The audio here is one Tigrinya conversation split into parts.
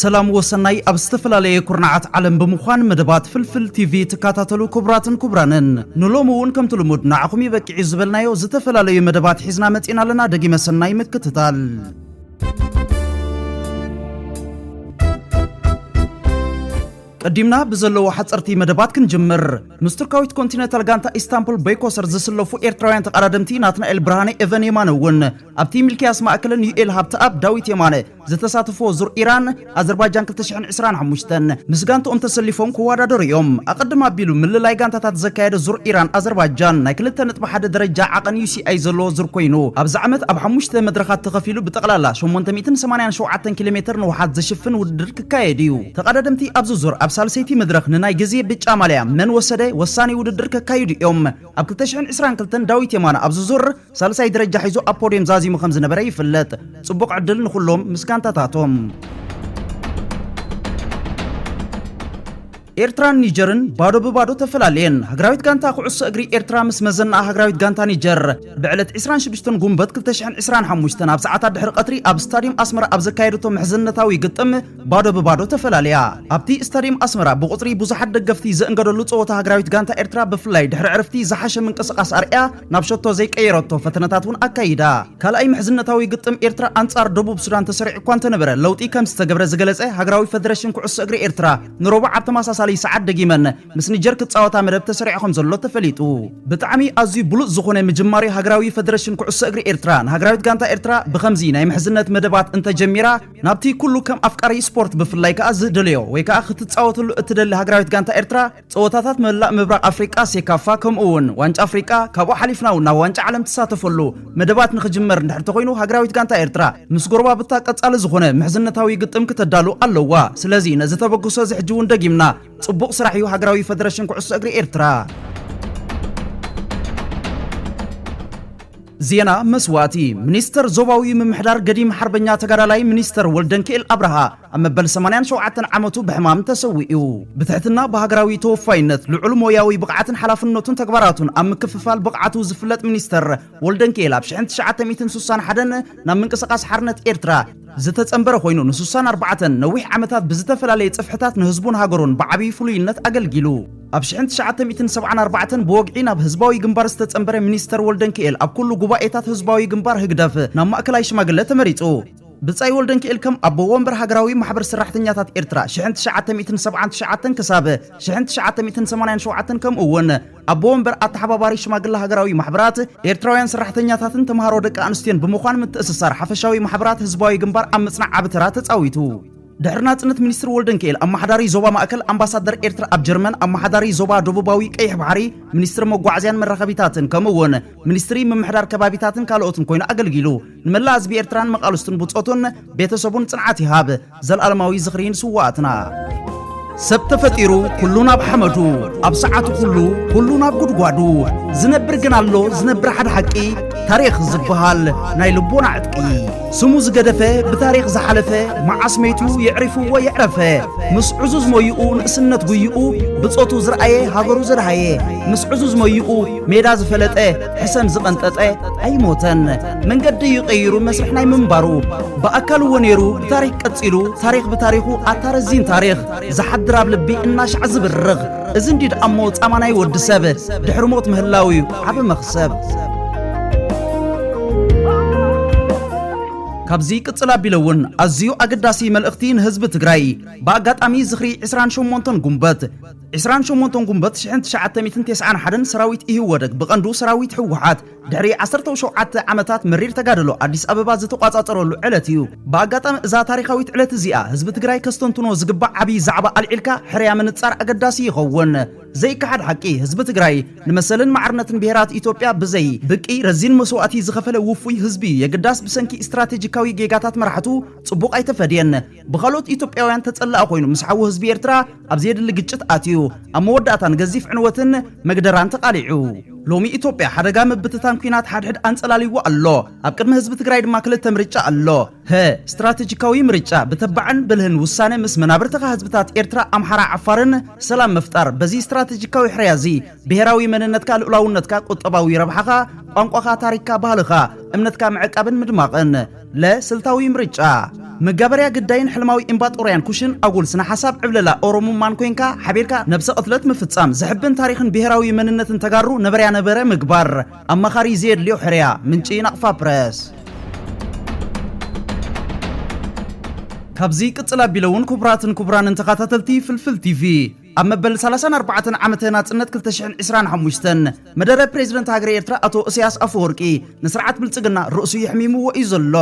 ሰላም ወሰናይ ኣብ ዝተፈላለየ ኩርናዓት ዓለም ብምዃን መደባት ፍልፍል ቲቪ ትካታተሉ ክቡራትን ኩቡራንን ንሎሚ እውን ከምቲ ልሙድ ንዓኹም ይበቂዒ ዝበልናዮ ዝተፈላለዩ መደባት ሒዝና መጺና ኣለና ደጊመ ሰናይ ምክትታል ቀዲምና ብዘለዎ ሓፀርቲ መደባት ክንጅምር ምስ ቱርካዊት ኮንቲነንታል ጋንታ ኢስታንቡል በይኮሰር ዝስለፉ ኤርትራውያን ተቐዳደምቲ ናትናኤል ብርሃነ ኤቨን የማነ እውን ኣብቲ ሚልክያስ ማእከልን ዩኤል ሃብተኣብ ዳዊት የማነ ዝተሳተፍዎ ዙር ኢራን ኣዘርባጃን ክልተ ሽሕን ዕስራን ሓሙሽተን ምስ ጋንትኦም ተሰሊፎም ክወዳደሩ እዮም። ኣቐድም ኣቢሉ ምልላይ ጋንታታት ዘካየደ ዙር ኢራን ኣዘርባጃን ናይ ክልተ ነጥቢ ሓደ ደረጃ ዓቐን UCI ዘለዎ ዙር ኮይኑ ኣብዚ ዓመት ኣብ ሓሙሽተ መድረኻት ተኸፊሉ ብጠቕላላ ሸሞንተ ሚእትን ሰማንያን ሸውዓተን ኪሎ ሜተር ንውሓት ዝሽፍን ውድድር ክካየድ እዩ። ተቐዳደምቲ ኣብዚ ዙር ኣብ ሳልሰይቲ መድረኽ ንናይ ግዜ ብጫ ማልያ መን ወሰደ ወሳኒ ውድድር ከካይዱ እዮም። ኣብ ክልተ ሽሕን ዕስራን ክልተን ዳዊት የማነ ኣብዚ ዙር ሳልሳይ ደረጃ ሒዙ ኣብ ፖድየም ዛዚሙ ከም ዝነበረ ይፍለጥ። ጽቡቕ ዕድል ንኹሎም ምስ ጋንታታቶም። ኤርትራን ኒጀርን ባዶ ብባዶ ተፈላለየን። ሃገራዊት ጋንታ ኩዕሶ እግሪ ኤርትራ ምስ መዘናኣ ሃገራዊት ጋንታ ኒጀር ብዕለት ዕስራን ሽዱሽተን ጉንበት ክልተ ሽሕን ዕስራን ሓሙሽተን ኣብ ሰዓታት ድሕሪ ቀትሪ ኣብ ስታድየም ኣስመራ ኣብ ዘካየደቶ ምሕዝነታዊ ግጥም ባዶ ብባዶ ተፈላለያ። ኣብቲ ስታድየም ኣስመራ ብቑጽሪ ብዙሓት ደገፍቲ ዝእንገደሉ ጸወታ ሃገራዊት ጋንታ ኤርትራ ብፍላይ ድሕሪ ዕርፍቲ ዝሓሸ ምንቅስቓስ ኣርእያ። ናብ ሸቶ ዘይቀየረቶ ፈተነታት እውን ኣካይዳ። ካልኣይ ምሕዝነታዊ ግጥም ኤርትራ ኣንጻር ደቡብ ሱዳን ተሰሪዑ እኳ እንተነበረ፣ ለውጢ ከም ዝተገብረ ዝገለጸ ሃገራዊ ፈደረሽን ኩዕሶ እግሪ ኤርትራ፣ ንሮቡዕ ኣብ ተመሳሳሊ ሰዓት ደጊመን ምስ ኒጀር ክጻወታ መደብ ተሰሪዑ ከም ዘሎ ተፈሊጡ። ብጣዕሚ ኣዝዩ ብሉጽ ዝኾነ ምጅማር'ዩ ሃገራዊ ፈደረሽን ኩዕሶ እግሪ ኤርትራ። ንሃገራዊት ጋንታ ኤርትራ ብኸምዚ ናይ ምሕዝነት መደባት እንተ ጀሚራ፣ ናብቲ ኩሉ ከም ኣፍቃሪ ስፖርት ብፍላይ ከኣ ዝደልዮ ወይ ከኣ ክትጻወተሉ እትደሊ ሃገራዊት ጋንታ ኤርትራ፣ ፀወታታት መላእ ምብራቕ ኣፍሪቃ ሴካፋ ከምኡ እውን ዋንጫ ኣፍሪቃ ካብኡ ሓሊፍና እውን ናብ ዋንጫ ዓለም ትሳተፈሉ መደባት ንክጅመር እንድሕር ተኾይኑ ሃገራዊት ጋንታ ኤርትራ ምስ ጎረባብታ ቀፃሊ ዝኾነ ምሕዝነታዊ ግጥም ክተዳሉ ኣለዋ። ስለዚ ነዚ ተበግሶ እዚ ሕጂ እውን ደጊምና ፅቡቕ ስራሕ እዩ ሃገራዊ ፈደረሽን ኩዕሶ እግሪ ኤርትራ። ዜና መስዋእቲ ሚኒስተር ዞባዊ ምምሕዳር ገዲም ሓርበኛ ተጋዳላይ ሚኒስተር ወልደንኪኤል ኣብርሃ ኣብ መበል ሰማንያን ሸውዓተን ዓመቱ ብሕማም ተሰዊኡ። ብትሕትና ብሃገራዊ ተወፋይነት፣ ልዑል ሞያዊ ብቕዓትን ሓላፍነቱን ተግባራቱን ኣብ ምክፍፋል ብቕዓቱ ዝፍለጥ ሚኒስተር ወልደንኪኤል ኣብ ሽሕን ትሽዓተ ሚእትን ስሳን ሓደን ናብ ምንቅስቓስ ሓርነት ኤርትራ ዝተጸንበረ ኮይኑ ንስሳን ኣርባዕተን ነዊሕ ዓመታት ብዝተፈላለየ ጽፍሕታት ንህዝቡን ሃገሩን ብዓቢ ፍሉይነት ኣገልጊሉ። ኣብ ሽሕን ትሽዓተ ሚእትን ሰብዓን ኣርባዕተን ብወግዒ ናብ ህዝባዊ ግንባር ዝተጸንበረ ሚኒስተር ወልደንኪኤል ኣብ ኩሉ ጉባኤታት ህዝባዊ ግንባር፣ ህግደፍ፣ ናብ ማእከላይ ሽማግለ ተመሪጹ። ብጻይ ወልደንኪኤል ከም ኣቦ ወንበር ሃገራዊ ማሕበር ሰራሕተኛታት ኤርትራ ሽሕን ትሽዓተ ሚእትን ሰብዓን ትሽዓተን ክሳብ ሽሕን ትሽዓተ ሚእትን ሰማንያን ሸውዓተን ከምኡ'ውን ኣቦ ወንበር ኣተሓባባሪ ሽማግለ ሃገራዊ ማሕበራት ኤርትራውያን ሰራሕተኛታትን ተማሃሮ ደቂ ኣንስትዮን ብምዃን ምትእስሳር ሓፈሻዊ ማሕበራት ህዝባዊ ግንባር ኣብ ምጽናዕ ዓቢ ተራ ተጻዊቱ። ድሕሪ ናጽነት ሚኒስትር ወልደንኪኤል ኣመሓዳሪ ዞባ ማእከል፣ ኣምባሳደር ኤርትራ ኣብ ጀርመን፣ ኣመሓዳሪ ዞባ ደቡባዊ ቀይሕ ባሕሪ፣ ሚኒስትሪ መጓዓዝያን መራኸቢታትን ከምኡ'ውን ሚኒስትሪ ምምሕዳር ከባቢታትን ካልኦትን ኮይኑ ኣገልጊሉ። ንመላእ ህዝቢ ኤርትራን መቓልስቱን ብጾቱን ቤተሰቡን ጽንዓት ይሃብ። ዘልኣለማዊ ዝኽሪ ንስዋኣትና! ሰብ ተፈጢሩ ኩሉ ናብ ሓመዱ ኣብ ሰዓቱ ኩሉ ኩሉ ናብ ጉድጓዱ ዝነብር ግን ኣሎ ዝነብር ሓደ ሓቂ ታሪኽ ዝበሃል ናይ ልቦና ዕጥቂ ስሙ ዝገደፈ ብታሪኽ ዝሓለፈ መዓስ መይቱ የዕሪፍዎ የዕረፈ ምስ ዕዙዝ ሞይኡ ንእስነት ጉይኡ ብጾቱ ዝረኣየ ሃገሩ ዘድሃየ ምስ ዕዙዝ ሞይኡ ሜዳ ዝፈለጠ ሕሰም ዝቐንጠጠ ኣይሞተን መንገዲ እዩ ቀይሩ መስርሕ ናይ ምንባሩ ብኣካል እዎ ነይሩ ብታሪክ ቀጺሉ ታሪክ ብታሪኹ ኣታ ረዚን ታሪኽ ዝሓድር ኣብ ልቢ እናሻዕ ዝብርኽ እዚ እንዲ ደኣ እሞ ጻማ ናይ ወዲ ሰብ ድሕሪ ሞት ምህላው እዩ ዓብ መኽሰብ ካብዚ ቅጽል ኣቢለ እውን ኣዝዩ ኣገዳሲ መልእኽቲ ንህዝቢ ትግራይ ብኣጋጣሚ ዝኽሪ 28 ጉንበት ዕስራን ሸሞንተን ጉንበት ሽሕን ትሽዓተ ሚእትን ተስዓን ሓደን ሰራዊት ኢህወደግ ብቐንዱ ሰራዊት ህወሓት ድሕሪ ዓሰርተው ሸውዓተ ዓመታት መሪር ተጋድሎ ኣዲስ ኣበባ ዝተቋፃፀረሉ ዕለት እዩ። ብኣጋጣሚ እዛ ታሪኻዊት ዕለት እዚኣ ህዝቢ ትግራይ ከስተንትኖ ዝግባእ ዓብዪ ዛዕባ ኣልዒልካ ሕርያ ምንፃር ኣገዳሲ ይኸውን። ዘይከሓድ ሓቂ ህዝቢ ትግራይ ንመሰልን ማዕርነትን ብሄራት ኢትዮጵያ ብዘይ ብቂ ረዚን መስዋእቲ ዝኸፈለ ውፉይ ህዝቢ እዩ። የግዳስ ብሰንኪ ስትራቴጂካዊ ጌጋታት መራሕቱ ፅቡቕ ኣይተፈድየን። ብኻልኦት ኢትዮጵያውያን ተጸላኢ ኮይኑ ምስ ሓዉ ህዝቢ ኤርትራ ኣብ ዘየድሊ ግጭት ኣትዩ ኣብ መወዳእታ ንገዚፍ ዕንወትን መግደራን ተቓሊዑ ሎሚ ኢትዮጵያ ሓደጋ ምብትታን ኩናት ሓድሕድ ኣንጸላልይዎ ኣሎ። ኣብ ቅድሚ ህዝቢ ትግራይ ድማ ክልተ ምርጫ ኣሎ። ሀ ስትራተጂካዊ ምርጫ ብተባዕን ብልህን ውሳነ ምስ መናብርትኻ ህዝብታት ኤርትራ፣ ኣምሓራ፣ ዓፋርን ሰላም ምፍጣር። በዚ ስትራተጂካዊ ሕርያ እዚ ብሄራዊ መንነትካ፣ ልኡላውነትካ፣ ቁጠባዊ ረብሓኻ፣ ቋንቋኻ፣ ታሪኽካ፣ ባህልኻ፣ እምነትካ ምዕቃብን ምድማቕን። ለ ስልታዊ ምርጫ መጋበርያ ግዳይን ሕልማዊ ኢምባጦርያን ኩሽን ኣጉል ስነ ሓሳብ ዕብለላ ኦሮሙማን ኮይንካ ሓቢርካ ነብሰ ቅትለት ምፍጻም ዘሕብን ታሪኽን ብሄራዊ መንነትን ተጋሩ ነበረያ ነበረ ምግባር ኣማኻሪ ዘየድልዮ ሕርያ ምንጪ ናቕፋ ፕረስ። ካብዚ ይቅጽል ኣቢለውን ኩቡራትን ኩቡራንን ተኻታተልቲ ፍልፍል ቲቪ፣ ኣብ መበል ሳላሳን ኣርባዕተን ዓመተ ናጽነት ክልተ ሽሕን ዕስራን ሓሙሽተን መደረ ፕሬዚደንት ሃገረ ኤርትራ ኣቶ እሰያስ ኣፈወርቂ ንስርዓት ብልጽግና ርእሱ የሕሚምዎ እዩ ዘሎ።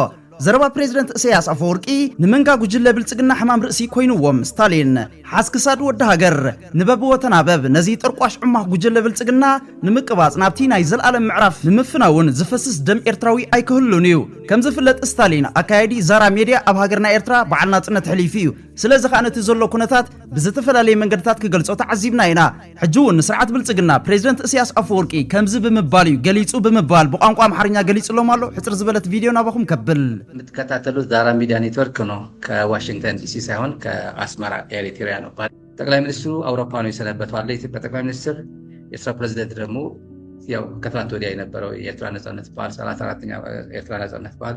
ዘረባ ፕሬዚደንት እሰያስ ኣፈወርቂ ንመንጋ ጉጅለ ብልጽግና ሕማም ርእሲ ኮይንዎም። ስታሊን ሓዝ ክሳድ ወዲ ሃገር ንበብወ ተናበብ ነዚ ጠርቋሽ ዕማኽ ጉጅለ ብልጽግና ንምቅባጽ ናብቲ ናይ ዘልኣለም ምዕራፍ ንምፍናውን ዝፈስስ ደም ኤርትራዊ ኣይክህሉን እዩ። ከም ዝፍለጥ ስታሊን ኣካያዲ ዛራ ሜድያ ኣብ ሃገርና ኤርትራ በዓል ናጽነት ሕሊፉ እዩ። ስለዚ ከኣ ነቲ ዘሎ ኩነታት ብዝተፈላለየ መንገድታት ክገልጾ ተዓዚብና ኢና። ሕጂ እውን ንስርዓት ብልጽግና ፕሬዚደንት እስያስ ኣፈወርቂ ከምዚ ብምባል እዩ ገሊጹ ብምባል ብቋንቋ ኣምሓርኛ ገሊጽሎም ኣሎ። ሕጽር ዝበለት ቪድዮ ናባኹም ከብል። የምትከታተሉት ዛራ ሚድያ ኔትወርክ ነው ከዋሽንግተን ዲሲ ሳይሆን ከአስመራ ኤሪትሪያ ነው ባል ጠቅላይ ሚኒስትሩ አውሮፓ ነው የሰነበቱ አለ የኢትዮጵያ ጠቅላይ ሚኒስትር የኤርትራ ፕሬዚደንት ደግሞ ያው ከትናንት ወዲያ የነበረው የኤርትራ ነጻነት በዓል ሰላሳ አራተኛ ኤርትራ ነጻነት በዓል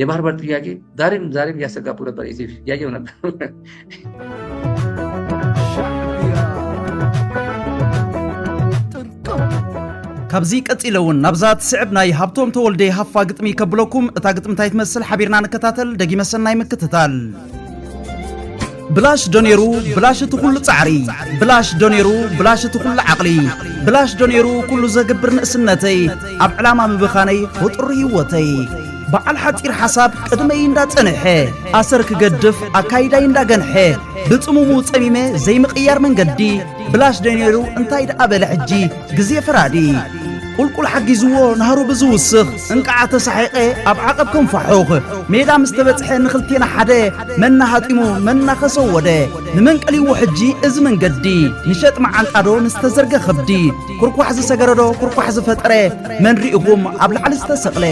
የባህር በር ጥያቄ ዛሬም ዛሬም እያሰጋቡ ነበር ኢቲቪ እያየው ነበር ካብዚ ቀፂለ እውን ናብዛ ትስዕብ ናይ ሃብቶም ተወልደ ሃፋ ግጥሚ ከብለኩም እታ ግጥሚ እንታይ ትመስል ሓቢርና ንከታተል ደጊመ ሰናይ ምክትታል ብላሽ ዶ ነይሩ ብላሽ እቲ ኩሉ ጻዕሪ ብላሽ ዶ ነይሩ ብላሽ እቲ ኩሉ ዓቕሊ ብላሽ ዶ ነይሩ ኩሉ ዘግብር ንእስነተይ ኣብ ዕላማ ምብኻነይ ፍጡር ህይወተይ በዓል ሓፂር ሓሳብ ቅድመይ እንዳጸንሐ ኣሰር ክገድፍ ኣካይዳይ እንዳገንሐ ብጽሙሙ ጸሚመ ዘይምቕያር መንገዲ ብላሽ ዶ ነይሩ እንታይ ደኣ በለ ሕጂ ግዜ ፈራዲ ቁልቁል ሓጊዝዎ ናህሩ ብዝውስኽ እንቃዓ ተሳሒቐ ኣብ ዓቐብ ከም ፋሑኽ ሜዳ ምስ ተበጽሐ ንኽልቴና ሓደ መና ሃጢሙ መና ከሰወደ ንመን ቀልይዎ ሕጂ እዚ መንገዲ ንሸጥ መዓንጣዶ ንዝተዘርገ ኸብዲ ኩርኳሕ ዝሰገረዶ ኩርኳሕ ዝፈጠረ መን ርኢኹም ኣብ ላዕሊ ዝተሰቕለ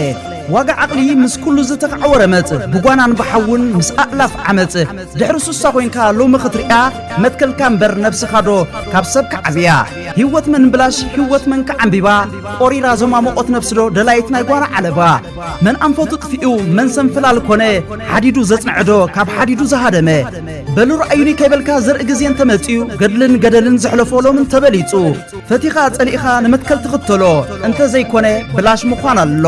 ዋጋ ዓቕሊ ምስ ኩሉ ዝተኻዕወ ረመጽ ብጓናን ብሓውን ምስ ኣእላፍ ዓመጽ ድሕሪ ሱሳ ኾይንካ ሎሚ ኽትርእያ መትከልካ እምበር ነብስኻዶ ካብ ሰብ ክዓብያ ህይወት መን ብላሽ ህይወት መን ከዓምቢባ ቆሪራ ዘማሞቆት ነብስዶ ደላይት ናይ ጓና ዓለባ መን ኣንፈቱ ጥፊኡ መን ሰንፍላል ኮነ ሓዲዱ ዘጽንዐዶ ካብ ሓዲዱ ዝሃደመ በሉ ረኣዩኒ ከይበልካ ዘርኢ ግዜ እንተመጽኡ ገድልን ገደልን ዘሕለፎ ሎም እንተበሊጹ ፈቲኻ ጸሊእኻ ንመትከል ትኽተሎ እንተዘይኮነ ብላሽ ምዃን ኣሎ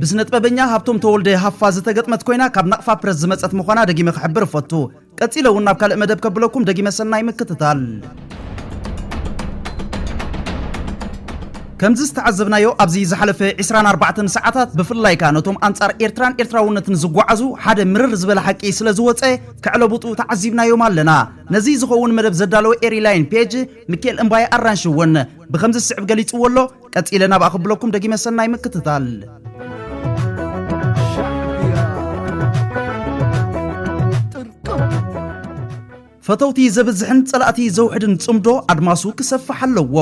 ብስነጥበበኛ ሃብቶም ተወልደ፣ ሃፋ፣ ዝተገጥመት ኮይና ካብ ናቕፋ ፕረስ ዝመጸት ምዃና ደጊመ ክሕብር እፈቱ። ቀጺለ እውን ናብ ካልእ መደብ ከብለኩም ደጊመ ሰናይ ምክትታል። ከምዚ ዝተዓዘብናዮ ኣብዚ ዝሓለፈ ዕስራን ኣርባዕተን ሰዓታት ብፍላይ ከኣ ነቶም ኣንጻር ኤርትራን ኤርትራውነትን ዝጓዓዙ ሓደ ምርር ዝበለ ሓቂ ስለ ዝወጸ ከዕለቡጡ ተዓዚብናዮም ኣለና። ነዚ ዝኸውን መደብ ዘዳለወ ኤሪ ላይን ፔጅ ሚኪኤል እምባየ ኣራንሺ እውን ብከምዚ ዝስዕብ ገሊጽዎ ኣሎ። ቀጺለ ናብኣ ክብለኩም ደጊመ ሰናይ ምክትታል ፈተውቲ ዘብዝሕን ጸላእቲ ዘውሕድን ጽምዶ ኣድማሱ ክሰፍሕ ኣለዎ።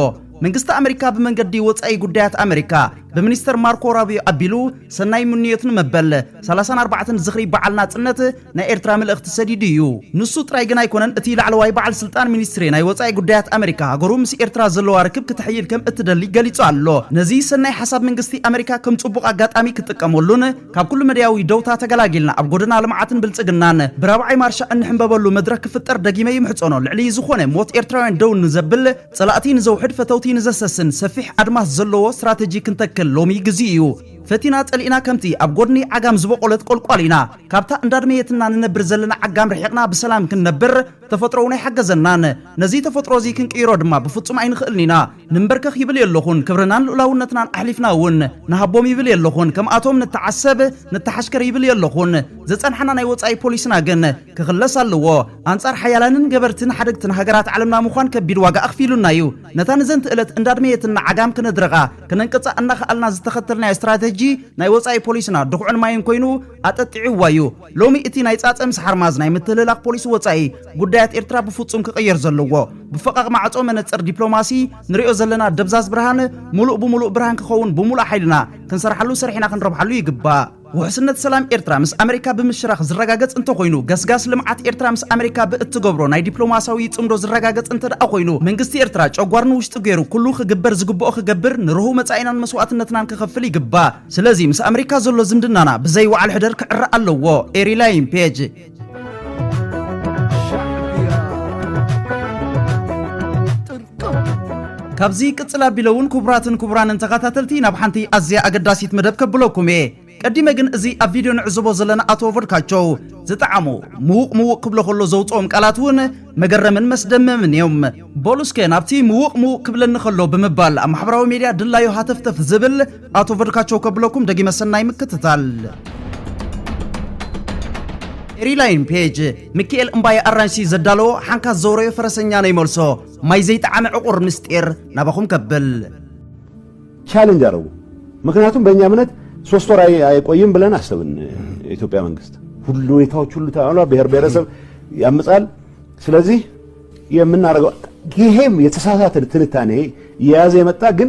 መንግስቲ ኣመሪካ ብመንገዲ ወጻኢ ጉዳያት ኣመሪካ ብሚኒስተር ማርኮ ራቢዮ ኣቢሉ ሰናይ ምንዮት ንመበል 34 ዝኽሪ በዓል ናጽነት ናይ ኤርትራ ምልእኽቲ ሰዲዱ እዩ። ንሱ ጥራይ ግን ኣይኮነን እቲ ላዕለዋይ በዓል ስልጣን ሚኒስትሪ ናይ ወጻኢ ጉዳያት ኣመሪካ ሃገሩ ምስ ኤርትራ ዘለዋ ርክብ ክተሕይል ከም እትደሊ ገሊጹ ኣሎ። ነዚ ሰናይ ሓሳብ መንግስቲ ኣመሪካ ከም ጽቡቕ ኣጋጣሚ ክጥቀመሉን ካብ ኩሉ መዳያዊ ደውታ ተገላጊልና ኣብ ጎደና ልምዓትን ብልጽግናን ብራብዓይ ማርሻ እንሕምበበሉ መድረኽ ክፍጠር ደጊመ ይምሕጸኖ ልዕሊ ዝኾነ ሞት ኤርትራውያን ደው ንዘብል ጸላእቲ ንዘውሕድ ፈተውቲ ንዘሰስን ሰፊሕ ኣድማስ ዘለዎ ስትራተጂ ክንተክል ሎሚ ግዚኡ እዩ። ፈቲና ጸሊእና ከምቲ ኣብ ጎድኒ ዓጋም ዝበቖለት ቆልቋል ኢና። ካብታ እንዳድመየትና ንነብር ዘለና ዓጋም ርሒቕና ብሰላም ክንነብር ተፈጥሮ'ውን ኣይሓገዘናን። ነዚ ተፈጥሮ'ዚ ክንቅይሮ ድማ ብፍጹም ኣይንኽእልን ኢና። ንምበርከኽ ይብል የለኹን፣ ክብርናን ልኡላውነትናን ኣሕሊፍና'ውን ንሃቦም ይብል የለኹን፣ ከምኣቶም ንተዓሰብ፣ ንተሓሽከር ይብል የለኹን። ዘጸንሓና ናይ ወጻኢ ፖሊስና ግን ክኽለስ ኣለዎ። ኣንጻር ሓያላንን ገበርትን ሓደግትን ሃገራት ዓለምና ምዃን ከቢድ ዋጋ ኣኽፊሉና'ዩ። ነታ ንዘንትእለት እንዳድመየትና ዓጋም ክነድርቓ፣ ክነንቅጻ እናኸኣልና ዝተኸተልናዮ ስትራተጂ ናይ ወጻኢ ፖሊስና ድኹዕን ማይን ኮይኑ ኣጠጢዕዋ እዩ። ሎሚ እቲ ናይ ጻጸ ምስ ሓርማዝ ናይ ምትህልላኽ ፖሊሲ ወጻኢ ጉዳያት ኤርትራ ብፍጹም ክቕየር ዘለዎ ብፈቓቕ ማዕጾ መነጽር ዲፕሎማሲ ንሪኦ ዘለና ደብዛዝ ብርሃን ምሉእ ብምሉእ ብርሃን ክኸውን ብምሉእ ሓይልና ክንሰርሓሉ ሰሪሕና ክንረብሓሉ ይግባእ። ውሕስነት ሰላም ኤርትራ ምስ ኣመሪካ ብምሽራኽ ዝረጋገጽ እንተኾይኑ፣ ገስጋስ ልምዓት ኤርትራ ምስ ኣመሪካ ብእትገብሮ ናይ ዲፕሎማስያዊ ጽምዶ ዝረጋገጽ እንተድኣ ኮይኑ፣ መንግስቲ ኤርትራ ጨጓር ንውሽጡ ገይሩ ኩሉ ክግበር ዝግብኦ ክገብር፣ ንርሁው መጻኢናን መስዋእትነትናን ክኸፍል ይግባእ። ስለዚ ምስ ኣመሪካ ዘሎ ዝምድናና ብዘይ ወዓል ሕደር ክዕረ ኣለዎ። Erilayne፣ Page። ካብዚ ቅጽል ኣቢለ እውን ክቡራትን ክቡራንን ተኸታተልቲ ናብ ሓንቲ ኣዝያ ኣገዳሲት መደብ ከብለኩም እየ ቀዲመ ግን እዚ ኣብ ቪድዮ ንዕዘቦ ዘለና ኣቶ ቮድካቸው ዝጠዓሙ ምዉቕ ምዉቕ ክብሎ ከሎ ዘውፅኦም ቃላት እውን መገረምን መስደመምን እዮም በሉ እስከ ናብቲ ምዉቕ ምዉቕ ክብለኒ ከሎ ብምባል ኣብ ማሕበራዊ ሜድያ ድላዩ ሃተፍተፍ ዝብል ኣቶ ቨድካቸው ከብለኩም ደጊመ ሰናይ ምክትታል። ኤሪላይን ፔጅ ምክኤል እምባየ ኣራንሺ ዘዳለዎ ሓንካስ ዘውረዮ ፈረሰኛ ነይ መልሶ ማይ ዘይጠዓመ ዕቑር ምስጢር ናባኹም ከብል ቻሌንጅ አደረጉ። ምክንያቱም በእኛ እምነት ሶስት ወር አይ- አይቆይም ብለን አሰብን። የኢትዮጵያ መንግስት ሁሉ ሁኔታዎች ሁሉ ተባሏ ብሔር ብሔረሰብ ያምጻል። ስለዚህ የምናደርገው ይሄም የተሳሳተ ትንታኔ የያዘ የመጣ ግን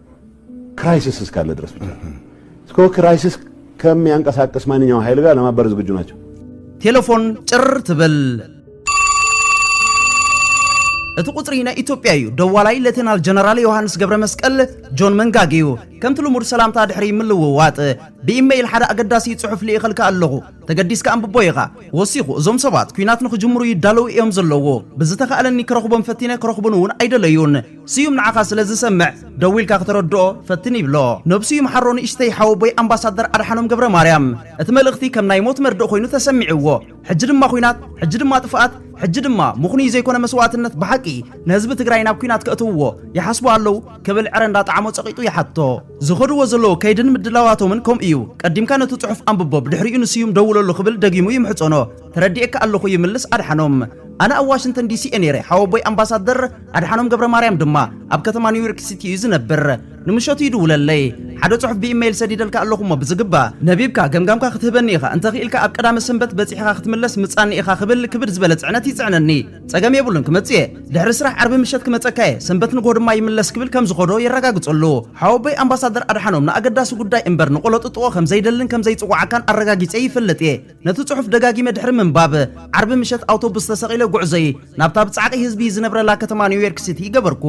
ክራይሲስ እስካለ ድረስ ብቻ እስኮ ክራይሲስ ከሚያንቀሳቅስ ማንኛውም ኃይል ጋር ለማበር ዝግጁ ናቸው። ቴለፎን ጭር ትብል እቲ ቁፅሪ ናይ ኢትዮጵያ እዩ ደዋላይ ሌተናል ጀነራል ዮሃንስ ገብረ መስቀል ጆን መንጋግ እዩ ከምቲ ልሙድ ሰላምታ ድሕሪ ምልውዋጥ ብኢመይል ሓደ ኣገዳሲ ጽሑፍ ልኢኸልካ ኣለኹ ተገዲስካ ኣንብቦ ኢኻ ወሲኹ እዞም ሰባት ኩናት ንክጅምሩ ይዳለዉ እዮም ዘለዎ ብዝተኻእለኒ ክረኽቦም ፈቲነ ክረኽቡን እውን ኣይደለዩን ስዩም ንዓኻ ስለ ዝሰምዕ ደዊልካ ክተረድኦ ፈትን ይብሎ ነብስዩም ሓሮ ንእሽተይ ሓወቦይ ኣምባሳደር ኣድሓኖም ገብረማርያም እቲ መልእኽቲ ከም ናይ ሞት መርድእ ኮይኑ ተሰሚዕዎ ሕጂ ድማ ኩናት ሕጂ ድማ ጥፍኣት ሕጂ ድማ ምኽኑይ ዘይኮነ መስዋእትነት ብሓቂ ንህዝቢ ትግራይ ናብ ኩናት ከእትውዎ ይሓስቡ ኣለው ክብል ዕረ እንዳጣዓሞ ጸቒጡ ይሓቶ ዝኸድዎ ዘለው ከይድን ምድላዋቶምን ከምኡ እዩ ቀዲምካ ነቲ ጽሑፍ ኣንብቦ ብድሕሪኡ ንስዩም ደውለሉ ክብል ደጊሙ ይምሕጸኖ ተረዲኤካ ኣለኹ ይምልስ ኣድሓኖም ኣነ ኣብ ዋሽንተን ዲሲ እየ ነይረ ሓወቦይ ኣምባሳደር ኣድሓኖም ገብረማርያም ድማ ኣብ ከተማ ኒውዮርክ ሲቲ እዩ ዝነብር። ንምሸቱ ይድውለለይ። ሓደ ጽሑፍ ብኢመይል ሰዲደልካ ኣለኹ እሞ ብዝግባእ ነቢብካ ገምጋምካ ክትህበኒ ኢኻ፣ እንተ ክኢልካ ኣብ ቀዳመ ሰንበት በጺሕኻ ክትምለስ ምጻኒ ኢኻ ክብል ክብድ ዝበለ ጽዕነት ይጽዕነኒ። ጸገም የብሉን ክመጽእ እየ። ድሕሪ ስራሕ ዓርቢ ምሸት ክመጸካ እየ፣ ሰንበት ንግሆ ድማ ይምለስ ክብል ከም ዝኸዶ የረጋግጸሉ። ሓወቦይ ኣምባሳደር ኣድሓኖም ንኣገዳሲ ጉዳይ እምበር ንቖሎጥጥቖ ከም ዘይደልን ከም ዘይጽውዓካን ኣረጋጊጸ ይፈልጥ እየ። ነቲ ጽሑፍ ደጋጊመ ድሕሪ ምንባብ፣ ዓርቢ ምሸት ኣውቶቡስ ተሰቒለ ጉዕዞይ ናብታ ብጻዕቒ ህዝቢ ዝነብረላ ከተማ ኒውዮርክ ሲቲ ገበርኩ።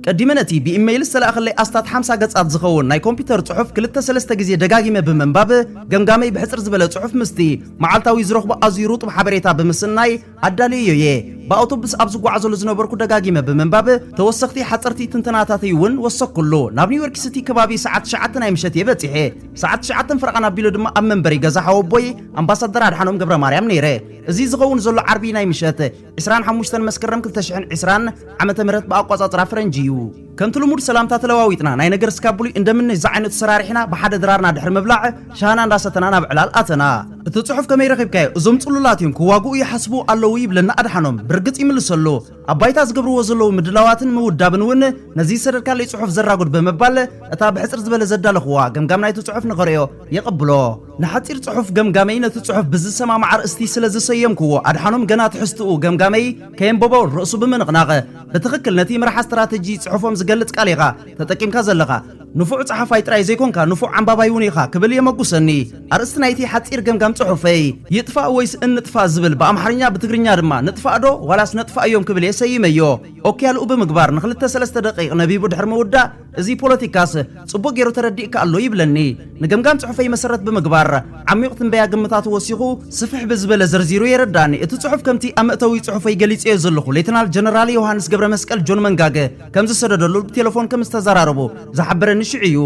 ቀዲመ ነቲ ብኢመይል ዝተላእከለይ ኣስታት ሓምሳ ገጻት ዝኸውን ናይ ኮምፒተር ጽሑፍ ክልተ ሰለስተ ግዜ ደጋጊመ ብምንባብ፣ ገምጋመይ ብሕጽር ዝበለ ጽሑፍ ምስቲ መዓልታዊ ዝረኽቦ ኣዝዩ ርጡብ ሓበሬታ ብምስናይ፣ ኣዳልየዮ'የ። ብኣውቶቡስ ኣብ ዝጓዓዘሉ ዝነበርኩ ደጋጊመ ብምንባብ፣ ተወሰኽቲ ሓጸርቲ ትንተናታተይ'ውን ወሰኽኩሉ። ናብ ኒውዮርክ ሲቲ ከባቢ ሰዓት ትሽዓተ ናይ ምሸት'የ በጺሐ። ሰዓት ትሽዓተን ፈረቓን ኣቢሉ ድማ ኣብ መንበሪ ገዛ ሓወቦይ ኣምባሳደር ኣድሓኖም ገብረማርያም ነይረ። እዚ ዝኸውን ዘሎ ዓርቢ ናይ ምሸት ዕስራን ሓሙሽተን መስከረም ክልተ ሽሕን ዕስራን ዓመተ ምህረት ብኣቋጻጽራ ፈረንጂ'ዩ። ከምቲ ልሙድ ሰላምታ ተለዋዊጥና ናይ ነገር ስካብ ብሉይ እንደምነሽ ዝዓይነቱ ሰራሪሕና ብሓደ ድራርና ድሕሪ ምብላዕ ሻህና እንዳሰተና ናብ ዕላል ኣተና። እቲ ጽሑፍ ከመይ ረኺብካዮ እዞም ጽሉላት እዮም ክዋግኡ ይሓስቡ ኣለዉ ይብለና ኣድሓኖም ብርግጽ ይምልሰሉ ኣብ ባይታ ዝገብርዎ ዘለዉ ምድላዋትን ምውዳብን እውን ነዚ ዝሰደድካለይ ጽሑፍ ዘራጉድ ብምባል እታ ብሕጽር ዝበለ ዘዳለኹዋ ገምጋም ናይቲ ጽሑፍ ንኸርእዮ የቐብሎ። ንሓጺር ጽሑፍ ገምጋመይ ነቲ ጽሑፍ ብዝሰማማዕ ኣርእስቲ ስለ ዝሰየምኩዎ፣ ኣድሓኖም ገና ትሕዝትኡ፣ ገምጋመይ፣ ከየንበቦ ርእሱ ብምንቕናቕ፣ ብትኽክል ነቲ መርሓ ስትራተጂ ጽሑፎም ዝገልጽ ቃል ኢኻ ተጠቂምካ ዘለኻ። ንፉዕ ጸሓፋይ ጥራይ ዘይኮንካ ንፉዕ ኣንባባይ'ውን ኢኻ ክብል የመጉሰኒ። ኣርእስቲ ናይቲ ሓጺር ገምጋም ጽሑፈይ፣ ይጥፋእ ወይስ እንጥፋእ ዝብል ብኣምሓርኛ ብትግርኛ ድማ ንጥፋእ ዶ ዋላስ ነጥፋእዮም ክብል እየ ሰይመዮ። ኦኬ ያልኡ ብምግባር ንኽልተ ሰለስተ ደቒቕ ነቢቡ ድሕሪ ምውዳእ፣ እዚ ፖለቲካስ ጽቡቕ ገይሩ ተረዲእካ ኣሎ ይብለኒ። ንገምጋም ጽሑፈይ መሰረት ብምግባር፣ ዓሚቝ ትንበያ ግምታቱ ወሲኹ ስፍሕ ብዝበለ ዘርዚሩ የረድኣኒ። እቲ ጽሑፍ ከምቲ ኣብ መእተዊ ጽሑፈይ ገሊጸዮ ዘለኹ፣ ሌተናል ጀነራል ዮውሃንስ ገብረመስቀል፣ ጆን መንጋግ፣ ከም ዝሰደደሉ ብቴለፎን ከም ዝተዘራረቡ ዝሓበረኒ ሽዑ እዩ።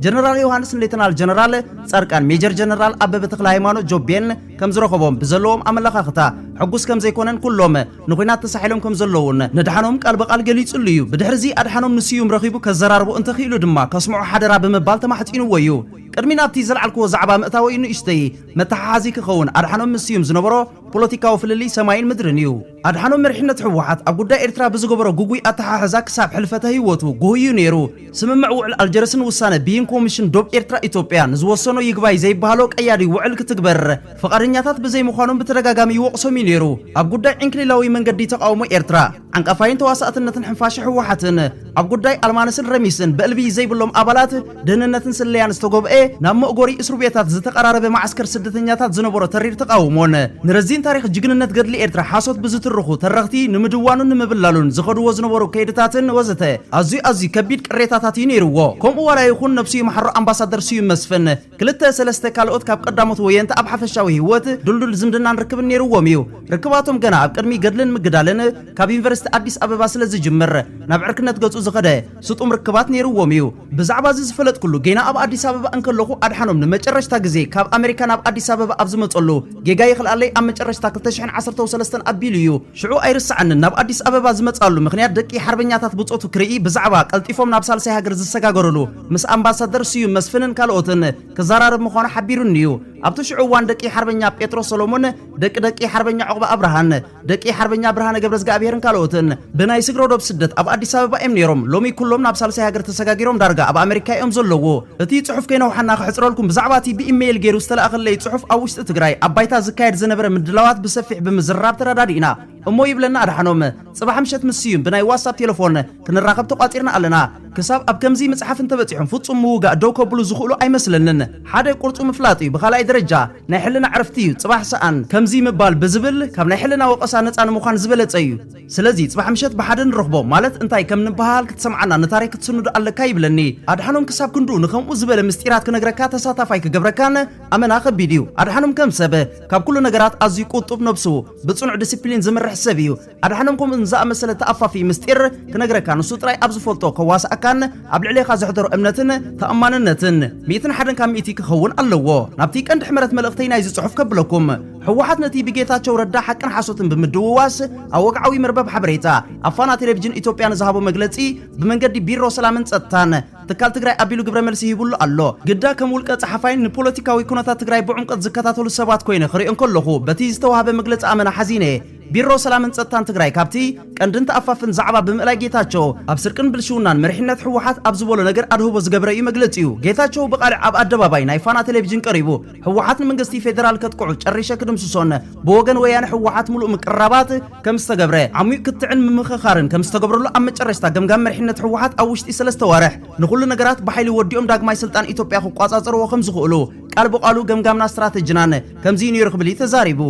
ጀነራል ዮውሃንስ ንሌተናል ጀነራል ጻድቃን፣ ሜጀር ጀነራል ኣበበ ተክለሃይማኖት፣ ጆቤን፣ ከም ዝረኸቦም፣ ብዘለዎም ኣመለኻኽታ ሕጉስ ከም ዘይኮነን ኩሎም፣ ንኹናት ተሳሒሎም ከም ዘለዉን ነድሓኖም ቃል ብቓል ገሊጽሉ እዩ። ብድሕሪ'ዚ ኣድሓኖም ንስዩም ረኺቡ ከዘራርቦ እንተ ክኢሉ ድማ ከስምዖ ሓደራ ብምባል ተማሕጺንዎ እዩ። ቅድሚ ናብቲ ዘልዓልክዎ ዛዕባ ምእታወይ ንእሽተይ መተሓሓዚ ክኸውን ኣድሓኖም ምስ ስዩም ዝነበሮ ፖለቲካዊ ፍልልይ ሰማይን ምድርን እዩ። ኣድሓኖም መሪሕነት ህወሓት ኣብ ጉዳይ ኤርትራ ብዝገበሮ ግጉይ ኣተሓሕዛ ክሳብ ሕልፈተ ህይወቱ ጉሁይ እዩ ነይሩ። ስምምዕ ውዕል ኣልጀርስን ውሳነ ብይን ኮሚሽን ዶብ ኤርትራ-ኢትዮጵያ ንዝወሰኖ ይግባይ ዘይበሃሎ ቀያዲ ውዕል ክትግበር፣ ፍቓደኛታት ብዘይምዃኖም ብተደጋጋሚ ይወቕሶም እዩ ነይሩ። ኣብ ጉዳይ ዕንክሊላዊ መንገዲ ተቓውሞ ኤርትራ፣ ዓንቃፋይን ተዋሳእትነትን ሕንፋሸ ህወሓትን፣ ኣብ ጉዳይ ኣልማነስን ረሚስን ብዕልቢ ዘይብሎም ኣባላት ደህንነትን ስለያን ዝተጎብኤ ናብ መእጎሪ እስሩቤታት ዝተቐራረበ መዓስከር ስደተኛታት ዝነበሮ ተሪር ተቓውሞን፣ ንረዚን ታሪኽ ጅግንነት ገድሊ ኤርትራ ሓሶት ብዝትርኹ ተረኽቲ ንምድዋኑን ንምብላሉን ዝኸድዎ ዝነበሩ ከይድታትን ወዘተ ኣዝዩ ኣዝዩ ከቢድ ቅሬታታት እዩ ነይርዎ። ከምኡ ዋላ ይኹን ነብሱ ይምሓሮ ኣምባሳደር ስዩም መስፍን፣ ክልተ ሰለስተ ካልኦት ካብ ቀዳሞት ወየንቲ ኣብ ሓፈሻዊ ህይወት ድልዱል ዝምድናን ርክብን ነይርዎም እዩ። ርክባቶም ገና ኣብ ቅድሚ ገድልን ምግዳልን ካብ ዩኒቨርሲቲ ኣዲስ ኣበባ ስለ ዝጅምር ናብ ዕርክነት ገጹ ዝኸደ ስጡም ርክባት ነይርዎም እዩ። ብዛዕባ እዚ ዝፈለጥኩሉ ገና ኣብ ኣዲስ ኣበባ እንከለኹ ኣድሓኖም ንመጨረሽታ ግዜ ካብ ኣመሪካ ናብ ኣዲስ ኣበባ ኣብ ዝመጸሉ ጌጋ ይኽልኣለይ ኣብ መጨረሽታ ክልተ ሽሕን ዓሰርተው ሰለስተን ኣቢሉ እዩ። ሽዑ ኣይርስዓንን ናብ ኣዲስ ኣበባ ዝመጽኣሉ ምኽንያት ደቂ ሓርበኛታት ብጾቱ ክርኢ ብዛዕባ ቀልጢፎም ናብ ሳልሳይ ሃገር ዝሰጋገሩሉ ምስ ኣምባሳደር ስዩም መስፍንን ካልኦትን ክዘራረብ ምዃኑ ሓቢሩኒ'ዩ። ኣብቲ ሽዑ እዋን ደቂ ሓርበኛ ጴጥሮስ ሰሎሞን፣ ደቂ ደቂ ሓርበኛ ዑቕበ ኣብርሃን፣ ደቂ ሓርበኛ ብርሃነ ገብረዝግኣብሄርን ካልኦትን ብናይ ስግረዶብ ስደት ኣብ ኣዲስ ኣበባ እዮም ነይሮም። ሎሚ ኩሎም ናብ ሳልሳይ ሃገር ተሰጋጊሮም ዳርጋ ኣብ ኣመሪካ እዮም ዘለዉ። እቲ ጽሑፍ ከይነውሓና ከሕጽረልኩም ብዛዕባ እቲ ብኢመይል ገይሩ ዝተላእከለይ ጽሑፍ ኣብ ውሽጢ ትግራይ ኣብ ባይታ ዝካየድ ዝነበረ ምድላዋት ብሰፊሕ ብምዝርራብ ተረዳዲእና እሞ ይብለና ኣድሓኖም። ጽባሕ ምሸት ምስ ስዩም ብናይ ዋትሳፕ ቴለፎን ክንራኸብ ተቋጺርና ኣለና። ክሳብ ኣብ ከምዚ ምጽሓፍ እንተበጺሖም ፍጹም ምውጋእ ደው ከብሉ ዝኽእሉ ኣይመስለንን። ሓደ ቁርጹ ምፍላጥ እዩ ብኻልኣይ ደረጃ ናይ ሕልና ዕረፍቲ እዩ ጽባሕ ሰኣን ከምዚ ምባል ብዝብል ካብ ናይ ሕልና ወቐሳ ነጻ ንምዃን ዝበለጸ እዩ። ስለዚ ጽባሕ ምሸት ብሓደ ንረኽቦም ማለት እንታይ ከም ንበሃሃል ክትሰምዓና ንታሪኽ ክትስንዶ ኣለካ ይብለኒ። ኣድሓኖም ክሳብ ክንድኡ ንከምኡ ዝበለ ምስጢራት ክነግረካ ተሳታፋይ ክገብረካን ኣመና ከቢድ እዩ ኣድሓኖም ከም ሰብ ካብ ኩሉ ነገራት ኣዝዩ ቁጡብ ነብሱ ብጽኑዕ ድስፕሊን ዝምርሕ ሰብ እዩ ኣድሓኖም ከምኡ ንዝኣመሰለ ተኣፋፊ ምስጢር ክነግረካ ንሱ ጥራይ ኣብ ዝፈልጦ ከዋስኣካን ኣብ ልዕሌኻ ዘሕደሮ እምነትን ተኣማንነትን ሚእትን ሓደን ካብ ሚእቲ ክኸውን ኣለዎ ናብቲ ቀንዲ ሕመረት መልእኽተይ ናይዚ ጽሑፍ ከብለኩም ሕወሓት ነቲ ብጌታቸው ረዳ ሓቅን ሓሶትን ብምድውዋስ ኣብ ወግዓዊ መርበብ ሓበሬታ ኣብ ፋና ቴሌቭዥን ኢትዮጵያ ንዝሃቦ መግለጺ ብመንገዲ ቢሮ ሰላምን ጸጥታን ትካል ትግራይ ኣቢሉ ግብረ መልሲ ሂቡሉ ኣሎ። ግዳ ከም ውልቀ ጸሓፋይን ንፖለቲካዊ ኩነታት ትግራይ ብዑምቀት ዝከታተሉ ሰባት ኮይነ ክሪኦ እንከለኹ በቲ ዝተዋህበ መግለጺ ኣመና ሓዚነ እየ። ቢሮ ሰላምን ጸጥታን ትግራይ ካብቲ ቀንድን ተኣፋፍን ዛዕባ ብምእላይ ጌታቸው ኣብ ስርቅን ብልሽውናን መሪሕነት ህወሓት ኣብ ዝበሎ ነገር ኣድህቦ ዝገብረ እዩ መግለጺኡ ጌታቸው ብቃልዕ ኣብ ኣደባባይ ናይ ፋና ቴሌቪዥን ቀሪቡ ህወሓት ንመንግስቲ ፌደራል ከጥቅዑ ጨሪሸ ክድምስሶን ብወገን ወያነ ህወሓት ሙሉእ ምቅርራባት ከም ዝተገብረ፣ ዓሙዩቅ ክትዕን ምምኽኻርን ከም ዝተገብረሉ ኣብ መጨረሽታ ገምጋም መሪሕነት ህወሓት ኣብ ውሽጢ ሰለስተ ወርሕ ንኹሉ ነገራት ብሓይሊ ወዲኦም ዳግማይ ስልጣን ኢትዮጵያ ክቋፃፀርዎ ከም ዝኽእሉ ቃል ብቓሉ ገምጋምናን ስትራተጅናን ከምዚ እዩ ነይሩ ክብል እዩ ተዛሪቡ።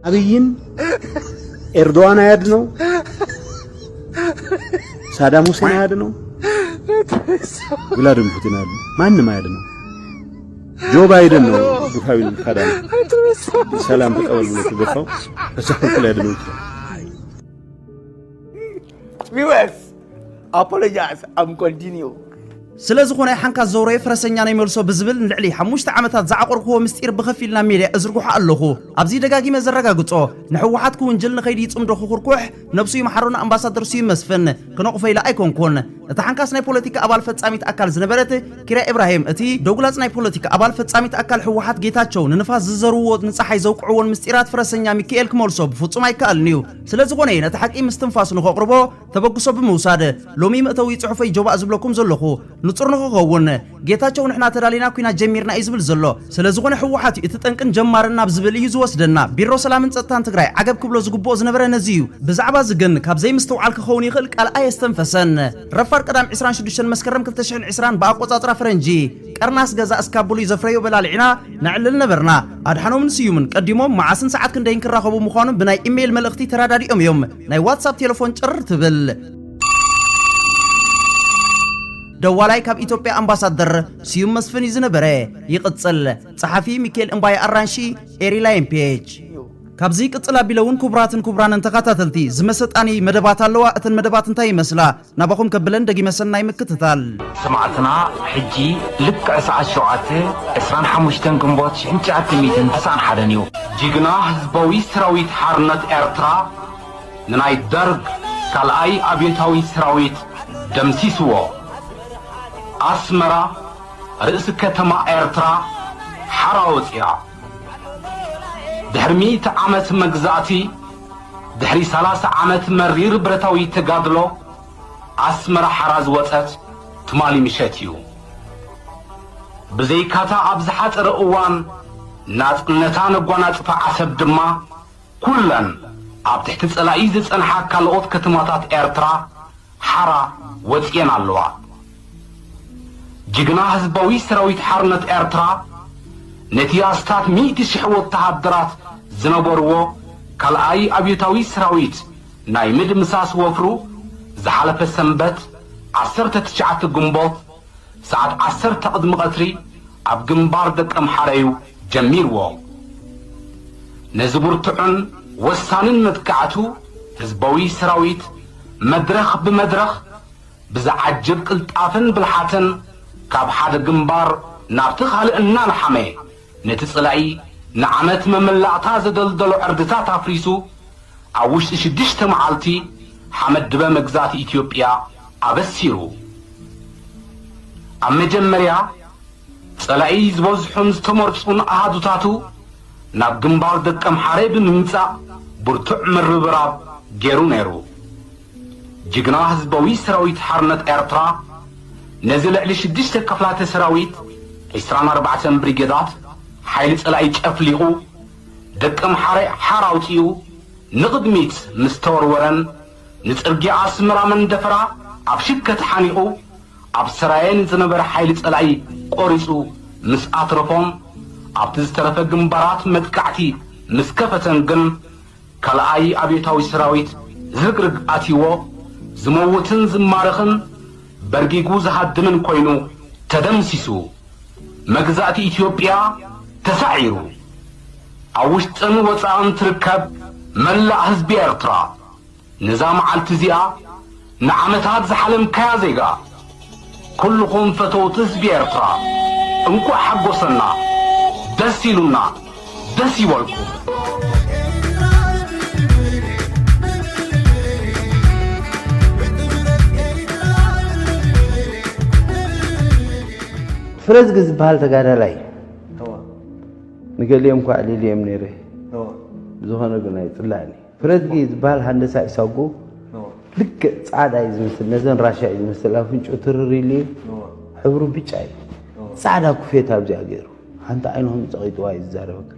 አብይን ኤርዶዋን አያድነው፣ ሳዳም ሁሴን አያድነው፣ ቭላድሚር ፑቲን አያድነው፣ ማንም አያድነው። ጆ ባይደን ነው ግፋዊ ካዳሚ ሰላም ተቀበል ብሎ ተገፋው ተሳክቶ ላይ ደሞ ቪወስ አፖሎጃይዝ አም ኮንቲኒዩ ስለ ዝኾነ ሓንካ ዘውረየ ፈረሰኛ ናይ መልሶ ብዝብል ንልዕሊ ሓሙሽተ ዓመታት ዝዓቆርክዎ ምስጢር ብኸፊል ናብ ሜድያ እዝርግሖ ኣለኹ ኣብዚ ደጋጊመ ዘረጋግጾ ንሕወሓት ክውንጅል ንኸይዲ ይጽምዶ ክኹርኩሕ ነብሱ ይምሓሮ ንኣምባሳደር ስዩም መስፍን ክነቕፎ ኢለ ኣይኮንኩን። እታ ሓንካስ ናይ ፖለቲካ ኣባል ፈጻሚት ኣካል ዝነበረት ኪራ ኢብራሂም እቲ ዶግላጽ ናይ ፖለቲካ ኣባል ፈጻሚት ኣካል ህወሓት ጌታቸው ንንፋስ ዝዘርውዎ ንጸሓይ ዘውቅዕዎን ምስጢራት ፍረሰኛ ሚኪኤል ክመልሶ ብፍጹም ኣይከኣልን'ዩ። ስለዝኾነ እየ ነቲ ሓቂ ምስ ትንፋሱ ንኸቕርቦ ተበግሶ ብምውሳድ ሎሚ መእተዊ ጽሑፈይ ጆባእ ዝብለኩም ዘለኹ። ንጹር ንኽኸውን። ጌታቸው ንሕና ተዳሊና ኩናት ጀሚርና እዩ ዝብል ዘሎ ሰለዝኾነ ህወሓት እዩ እቲ ጠንቅን ጀማርን ናብ ዝብል እዩ ዝወስደና ቢሮ ሰላምን ፀጥታን ትግራይ ዓገብ ክብሎ ዝግብኦ ዝነበረ ነዚ እዩ ብዛዕባ እዚ ግን ካብ ዘይምስትውዓል ክኸውን ይኽእል ቃል ኣየስተንፈሰን ረፋድ ቀዳም ዕስራን ሽዱሽተን መስከረም ክልተ ሽሕን ዕስራን ብኣቆፃፅራ ፈረንጂ ቀርኒ ኣስገዛ እስካብ ብሉይ ዘፍረዮ በላሊዕና ነዕልል ነበርና ኣድሓኖምን ስዩምን ቀዲሞም መዓስን ሰዓት ክንደይን ክራኸቡ ምዃኖም ብናይ ኢሜይል መልእኽቲ ተረዳዲኦም እዮም ናይ ዋትሳፕ ቴለፎን ጭር ትብል ደዋላይ ካብ ኢትዮጵያ ኣምባሳደር ስዩም መስፍን እዩ ዝነበረ ይቕጽል ጸሓፊ ሚካኤል እምባይ ኣራንሺ ኤሪ ላየን ፔጅ ካብዚ ቅጽል ኣቢለ እውን ክቡራትን ክቡራንን ተኸታተልቲ ዝመሰጣኒ መደባት ኣለዋ እተን መደባት እንታይ ይመስላ ናባኹም ከብለን ደጊመ ሰናይ ምክትታል ሰማዕትና ሕጂ ልክዕ ሰዓት ሸውዓተ ዕስራን ሓሙሽተን ግንቦት ሽሕን ትሽዓተ ሚእትን ተስዓን ሓደን እዩ ጅግና ህዝባዊ ሰራዊት ሓርነት ኤርትራ ንናይ ደርግ ካልኣይ ኣብዮታዊ ሰራዊት ደምሲስዎ። ኣስመራ ርእሲ ከተማ ኤርትራ ሓራ ወጺኣ። ድሕሪ ሚእቲ ዓመት መግዛእቲ፣ ድሕሪ ሰላሳ ዓመት መሪር ብረታዊ ተጋድሎ፣ ኣስመራ ሓራ ዝወጸት ትማሊ ምሸት እዩ። ብዘይካ'ታ ኣብ ዝሓጸረ እዋን ናጽነታ ነጓናጽፋ ዓሰብ ድማ፣ ኩለን ኣብ ትሕቲ ጸላኢ ዝጸንሓ ካለኦት ከተማታት ኤርትራ ሓራ ወጺኤን ኣለዋ። ጅግና ህዝባዊ ሰራዊት ሓርነት ኤርትራ ነቲ ኣስታት ሚእቲ ሽሕ ወተሃደራት ዝነበርዎ ካልኣይ ኣብዮታዊ ሰራዊት ናይ ምድምሳስ ወፍሩ ዝሓለፈ ሰንበት ዓሰርተ ትሽዓተ ግንቦት ሰዓት ዓሰርተ ቅድሚ ቀትሪ ኣብ ግንባር ደቀምሓረዩ ጀሚርዎ። ነዚ ብርቱዕን ወሳንን መጥቃዕቱ ህዝበዊ ሰራዊት መድረኽ ብመድረኽ ብዝዓጅብ ቅልጣፈን ብልሓትን ካብ ሓደ ግንባር ናብቲ ካልእ እናልሓመ፣ ነቲ ጸላኢ ንዓመት መመላእታ ዘደልደሎ ዕርድታት ኣፍሪሱ፣ ኣብ ውሽጢ ሽዱሽተ መዓልቲ ሓመድ ድበ መግዛእቲ ኢትዮጵያ ኣበሲሩ። ኣብ መጀመርያ፣ ጸላኢ ዝበዝሑን ዝተመርጹን ኣሃዱታቱ ናብ ግንባር ደቀምሓረ ብምምጻእ ብርቱዕ ምርብራብ ገይሩ ነይሩ። ጅግና ህዝባዊ ሰራዊት ሓርነት ኤርትራ ነዚ ልዕሊ ሽዱሽተ ክፍላተ ሰራዊት ዕስራን ኣርባዕተን ብሪጌዳት ሓይሊ ጸላኢ ጨፍሊቑ ደቀምሓረ ሓራ ኣውጺኡ ንቕድሚት ምስ ተወርወረን ንጽርግያ ኣስመራ መንደፈራ ኣብ ሽከት ሓኒቑ ኣብ ሰራየ ንዝነበረ ሓይሊ ጸላኢ ቆሪጹ ምስ ኣትረፎን ኣብቲ ዝተረፈ ግንባራት መጥቃዕቲ ምስ ከፈተን ግን ካልኣይ ኣብዮታዊ ሰራዊት ዝግርግ ኣትይዎ ዝመውትን ዝማረኽን በርጊጉ ዝሃድምን ኮይኑ ተደምሲሱ። መግዛእቲ ኢትዮጵያ ተሳዒሩ። ኣብ ውሽጥን ወጻእን ትርከብ መላእ ህዝቢ ኤርትራ ነዛ መዓልቲ እዚኣ ንዓመታት ዝሓለምካያ ዜጋ ኩሉኹም ፈተውቲ ህዝቢ ኤርትራ እንቋዕ ሓጎሰና ደስ ኢሉና ደስ ይበልኩም። ፍረዝጊ ዝበሃል ተጋዳላይ ንገሊኦም እኳ ኣዕሊለዮም ነይረ ብዝኾነ ግን ኣይፅላእን እዩ። ፍረዝጊ ዝበሃል ሃንደሳ ኢሳጉ ልክዕ ፃዕዳ እዩ ዝመስል፣ ነዘን ራሻ እዩ ዝመስል፣ ኣፍንጭኡ ትርር ኢሉ እዩ፣ ሕብሩ ብጫ እዩ፣ ፃዕዳ ኩፌታ ኣብዚኣ ገይሩ ሓንቲ ዓይኑ ከም ፀቒጥዋ እዩ ዝዛረበካ።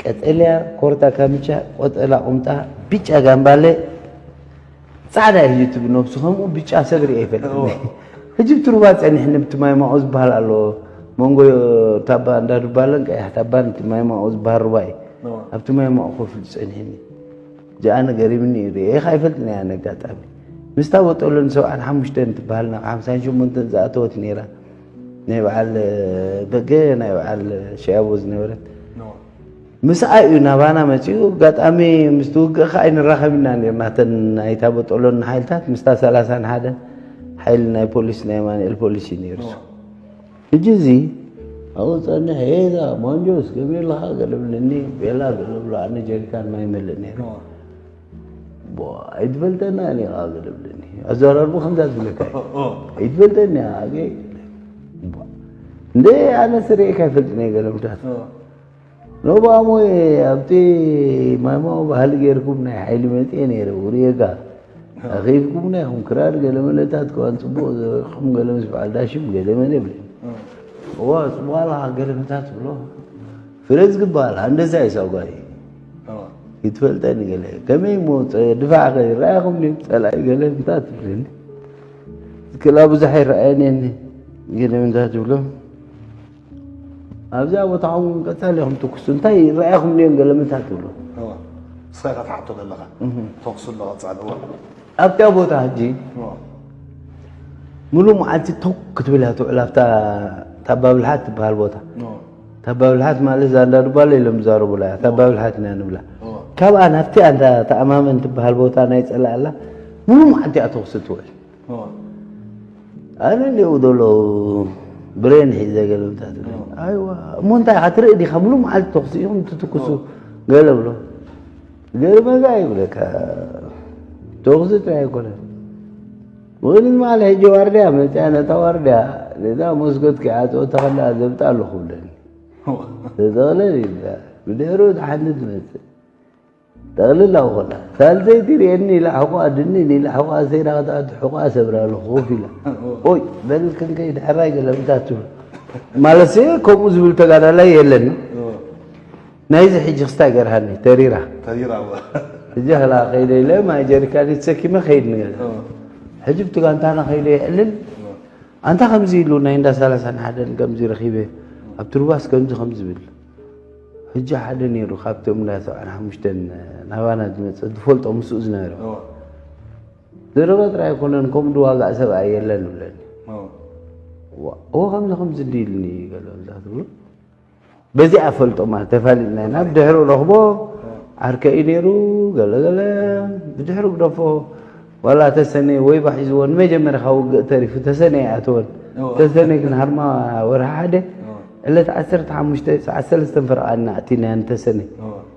ቀጠልያ ኮርታ ካምቻ፣ ቆጠላ ቁምጣ፣ ብጫ ጋምባለ ጻዕዳ እዩ እቲ ብነብሱ ከምኡ ብጫ ሰብ ሪኤ ኣይፈልጥን ሕጂ ብቲ ሩባ ጸኒሕኒ ብቲ ማይማኦ ዝበሃል ኣሎ መንጎ ታባ እንዳ ዱባለን ቀያሕ ታባን እቲ ማይማኦ ዝበሃል ሩባ እዩ ኣብቲ ማይማኦ ኮፍ ኢሉ ጸኒሕኒ ጃኣነ ገሪምኒ እዩ ሪኤኻ ኣይፈልጥን እያ ነጋጣሚ ምስታ ወጠሎን ሰብዓን ሓሙሽተን ትበሃል ናብ ሓምሳን ሸሞንተን ዝኣተወት ነይራ ናይ በዓል በገ ናይ በዓል ሸያቦ ዝነበረት ምስኣ እዩ ናባና መጺኡ ኣጋጣሚ ምስቲ ውግእ ከ ኣይንራኸብ ኢና ነርና እተን ናይታ በጦሎን ሓይልታት ምስታ ሰላሳን ሓደ ሓይሊ ናይ ፖሊስ ናይ ኣማንኤል ፖሊስ እዩ ነይሩ ሕጂ እዚ ኣብኡ ፀንሕ ሄዛ ማንጆስ ገቢርልኻ ገለብልኒ ቤላ ገለብሎ ኣነ ጀሪካን ማይ መልእ ነይረ ኣይትፈልጠናን ኢኻ ዝለብለኒ ኣዘራርቡ ከምዛ ዝብለካ ኣይትፈልጠኒ እንደ ኣነ ስርኤካ ይፈልጥነ ገለ ምታት ኖባሞ ኣብቲ ማማ ባህሊ ገይርኩም ናይ ሓይሊ መፅኤ ነይረ ውርየጋ ኣኺብኩምና ይኹም ክራር ገለ መለታት ከዋን ፅቡቕ ዘበኹም ገለ ምስ በዓል ዳሽም ገለ መለ ይብል እዋ ፅቡቕ ኣለኻ ገለ ምታት ብሎ ፍረዝ ክበሃል ኣንደዛ እዩ ሳጓይ ይትፈልጠኒ ገለ ከመይ እሞ ድፋዕ ከ ይረኣኹም ፀላኢ ገለ ምታ ትብለኒ ክላ ብዙሕ ይረኣየኒ ገለ ምታ ትብሎ ኣብዛ ቦታ ኹም ቀፃሊ ኹም ትኩሱ እንታይ ይረኣኹም ዮም ገለ ምታ ትብሎ ንስኻ ኢኻ ትሓቶ ዘለኻ ተኩሱ ኣሎ ቀፃሊ ኣብታ ቦታ ሕጂ ሙሉእ መዓልቲ ተኩ ክትብል እያ ትውዕል ኣብታ ታባብልሓት ትበሃል ቦታ ታባብልሓት ማለት ዛንዳ ዱባለ ኢሎም ዝዛረቡላ እያ ታባብልሓት ኢና ንብላ ካብኣ ናብቲ ኣንታ ተኣማመን ትበሃል ቦታ ናይ ፀላኣላ ሙሉእ መዓልቲ እያ ተኹሲ ትውዕል ኣነ ሊኡ ዘሎ ብሬን ሒዘ ገለ እንታይ ትብል ኣይዋ እሞ እንታይ ኢኻ ትርኢ ዲኻ ሙሉእ መዓልቲ ተኹሲ ኢኹም ትትኩሱ ገለ ብሎ ገርመጋ ይብለካ ተኹሲ ጥራይ ኣይኮነን ወይን ማለ ሕጂ ዋርድያ መፅያ ነታ ዋርድያ ነዛ መስኮት ክዓፅኦ ተኸላ ዘብጣ ኣለኹ ብለኒ ተጠቕለል ኢላ ብድሕሪኡ እቲ ሓንቲ ትመፅእ ጠቕልል ኣብ ኮላ ሳልሰይቲ ርእየኒ ኢላ ሕቋኣ ድንን ኢላ ሕቋኣ ሰይራ ክትኣቱ ሕቋኣ ሰብራ ኣለኹ ኮፍ ኢላ ኦይ በል ክንከይ ድሕራይ ገለ ምታት ትብል ማለት ከምኡ ዝብል ተጋዳላይ የለን ናይዚ ሕጂ ክስታይ ገርሃኒ ተሪራ ተሪራ ሕጂ ከላ ከይደ ኢለ ማይ ጀሪካኒ ተሰኪመ ከይድ ንገዛ ሕጂ ብቲ ጋንታና ከይደ የዕልል ኣንታ ከምዚ ኢሉ ናይ እንዳ ሰላሳን ሓደን ከምዚ ረኺበ ኣብ ትርባስ ከምዚ ከም ዝብል ሕጂ ሓደ ነይሩ ካብቶም እንዳ ሰብዓን ሓሙሽተን ናባና ዝመፀ ዝፈልጦ ምስኡ ዝነበረ ዘረባ ጥራይ ኣይኮነን ከምኡ ድዋጋእ ሰብኣይ የለን ብለኒ እዎ ከምዚ ከምዚ እንዲ ኢሉኒ ገለ ትብሉ በዚኣ ፈልጦ ማለት ተፋሊጥና ኢና ብድሕሪ ረኽቦ ዓርከ እዩ ነይሩ ገለገለ ብድሕሪ ግደፎ ዋላ ተሰነ ወይባ ሒዝዎ ንመጀመርያ ካብ ውግእ ተሪፉ ተሰነ ይኣተወን ተሰነ ግን ሃርማ ወርሒ ሓደ ዕለት ዓሰርተ ሓሙሽተ ሰዓት ሰለስተ ፈረቓ እና ኣቲናያ ንተሰነ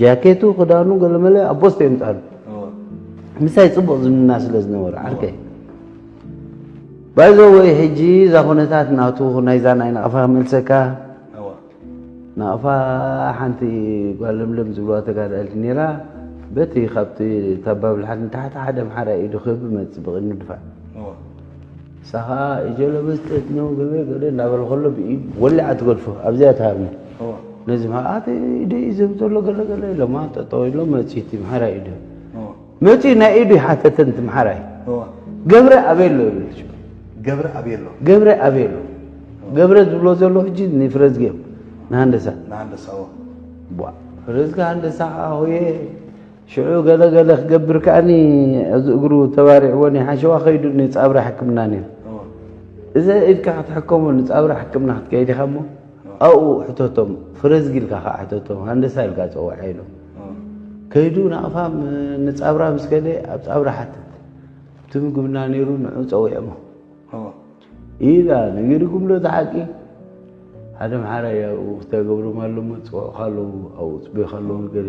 ጃኬቱ ክዳኑ ገለመለ ኣብ ቦስቶ የምጻሉ ምሳይ ጽቡቕ ዝምና ስለ ዝነበረ ዓርከይ ባይዘ ወይ ሕጂ እዛ ኩነታት ናቱ ናይዛ ናይ ናቕፋ ክመልሰካ ናቕፋ ሓንቲ ጓል ለምለም ዝብልዋ ተጋዳልቲ ነራ በቲ ካብቲ ታባብልሓት ንታሕቲ ሓደ ኣምሓራ ኢዱ ክህብ መፅእ ብቕድሚ ድፋዕ ንሳ ኸኣ እጀሎ በዝጠት ነው ገበ ገደ እናበለ ከሎ ብኢድ ወሊዓ ትገድፎ ኣብዚኣ ትሃብኒ ነዚ መኣት ኢደ እዩ ዘም ዘሎ ገለገለ ኢሎማ ጠጠው ኢሎ መፅኡ እቲ ምሓራይ ኢደ መፅኡ ናይ ኢዱ ይሓተተን እቲ ምሓራይ ገብረ ኣበሎ ይብለች ገብረ ኣበሎ ገብረ ኣበሎ ገብረ ዝብሎ ዘሎ ሕጂ ንፍረዝጌም ንሃንደሳ ንሃንደሳ ፍረዝጋ ሃንደሳ ሆየ ሽዑ ገለ ገለ ክገብር ከኣኒ ኣብዚ እግሩ ተባሪዕዎ ሓሸዋ ከይዱ ንፃብራ ሕክምና ነይሩ እዚ ኢድካ ክትሕከሙ ንፃብራ ሕክምና ክትከይድ ኢኻ እሞ ኣብኡ ሕተቶም ፍረዝጊ ኢልካ ከዓ ሕተቶም ሃንደሳ ኢልካ ፀዋዕ ኢሎም ከይዱ ናቕፋ ንፃብራ ምስ ከደ ኣብ ፃብራ ሓትት እቲ ምግብና ነይሩ ንዑ ፀዊዕሞ ኢላ ነጊርኩም ዶ ተሓቂ ሓደ መሓራ እያ ተገብርም ኣለሞ ፅውዑ ካለዉ ኣብኡ ፅበዩ ካለዉ ንገር